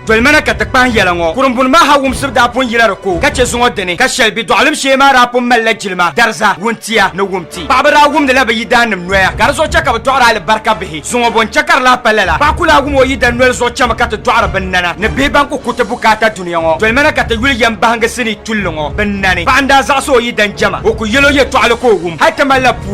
Dolimana ka ti kpahi yɛla ŋɔ. Kurimbuni maa ha wumsibu daa pun yila di ko ka chɛ zuŋɔ dini ka shɛli be dɔɣilim shee maa daa pun malila jilima, dariza, wuntia ni wumti. Paɣiba daa wumdila bɛ yidaannim noya ka di zuɣu chɛ ka bɛ dɔɣiri alibarika bihi. Zuŋɔ bo n-chɛ ka di lahi pa lala? Paɣa ku lahi wum o yidan noli zuɣu chɛmi ka ti dɔɣiri binnana ni bihi ban ku ku ti bukaata dunia ŋɔ. Dolimana ka ti yuli yɛm bahigi sinii tulli ŋɔ binnani. Paɣa n-daa zaɣisi o yidan jɛma, o ku yɛl o yɛtɔɣili ka o wum hal ti malila puu.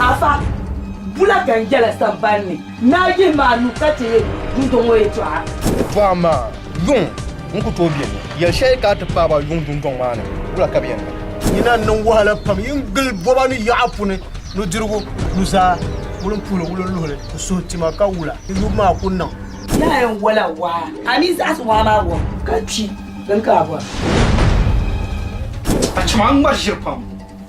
Afa, bula ka n yɛla samban ni naa yihi ma anu ka ti yi du dɔŋɔ yɛtɔɣa? Bɔhim ma, Yuŋ n ku tooi beni. Yɛli shɛli ka a ti paai ba yuŋ dundɔŋ maa ni, wula ka bɛ yɛn niŋ? Yi na niŋ wahala pam yi ni gili bɔba ni yaɣa puni, nudirigu, nuzaa, wulimpuhili wulinluhili, ku suhu ti ma, ka wula yi yubu maa ku niŋ? Naa yɛn wɔla waa, a mi zaɣisi waa maa wɔbu ka kpi din ka a bɔri. A chɛ ma n ŋmari ʒiri pam.